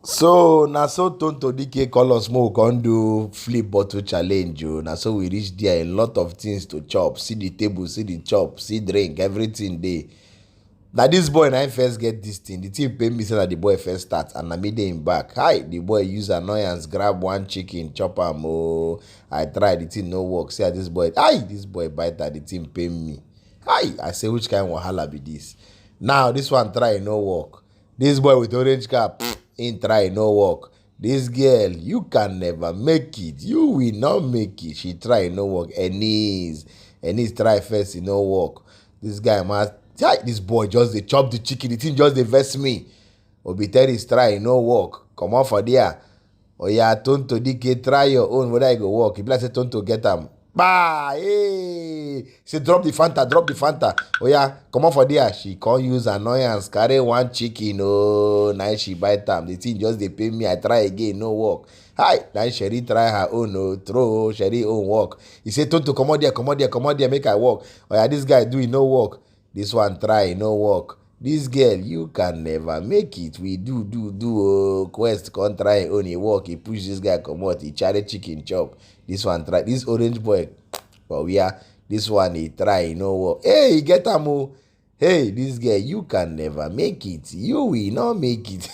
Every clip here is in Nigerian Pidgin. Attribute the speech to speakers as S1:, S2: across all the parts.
S1: So na so Tonto Dike call us make we come do flip bottle challenge o. Na so we reach there, a lot of things to chop. See the table, see the chop, see drink, everything dey. Na this boy na him first get this thing. The thing pain me say na the boy first start and na me dey him back. Hi, the boy use annoyance grab one chicken chop am o. I try, the thing no work. See as this boy, hi, this boy bite am, the thing pain me. Hi, I say which kind wahala be this? Now this one try e no work. This boy with orange cap, in try no work. This girl, you can never make it. You will not make it. She try no work. Ennis, Ennis try first, e no work. This guy must. This boy just dey chop the chicken. The thing just dey vex me. Obi tell his try, e no work. Comot for there. Oya Tonto Dike try your own whether e go work. E be like say Tonto get am. Bah! Hey! Say drop the Fanta, drop the Fanta. Oya comot for there. She come use annoyance carry one chicken oh na she bite am. The thing just dey pain me. I try again no work. Hi! Na Sherry try her own oh throw oh Sherry own work. He say Tonto comot there, comot there, comot there make I work. Oya this guy do e no work. This one try e no work. This girl you can never make it we do do do oh quest come try im own e work e push this guy comot e carry chicken chop this one try this orange boy for where this one e try e no work hey e get am o hey this girl you can never make it you will not make it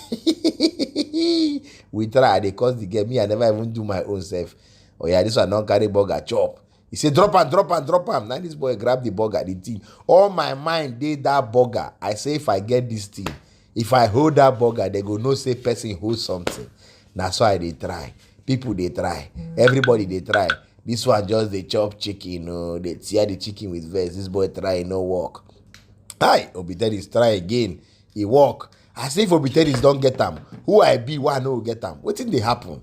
S1: we try i dey cause the girl me i never even do my own self oh yeah this one don carry burger chop He say drop am, drop am, drop am. Now this boy grab the burger, the thing. All my mind dey that burger. I say if I get this thing, if I hold that burger, they go know say person hold something. Na so I dey try. People dey try. Everybody dey try. This one just dey chop chicken, oh, dey tear the chicken with vex. This boy try, e no work. Hi, Obi Dennis try again. He work. I say if Obi Dennis don get am, who I be, why I no go get am? Wetin dey happen?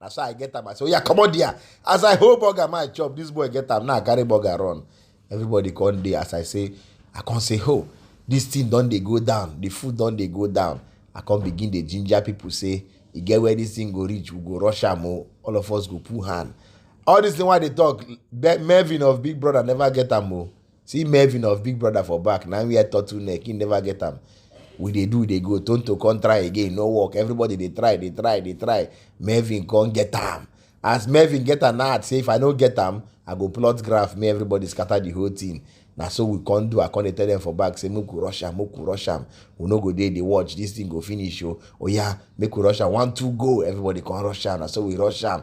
S1: na so i get am i say oya comot there as i hold burger my chop this boy get am now i carry burger run everybody come dey as i say i come say ho this thing don dey go down the food don dey go down i come begin dey ginger people say e get where this thing go reach we go rush am o all of us go put hand all this thing wey i dey talk melvin of big brother never get am o. See Melvin of Big Brother for back, now we are turtle neck, he never get am. We dey do, they go, Tonto come try again, no work. Everybody they try, they try, they try. Melvin come get am. As Melvin get am, now say if I no get am, I go plot graph, me everybody scatter the whole thing. Now so we can't do, I can't tell them for back, say make we rush am, make we rush am. We no go there, they watch, this thing go finish, oh, oh yeah, make we rush am, one, two, go. Everybody come rush am, now so we rush am.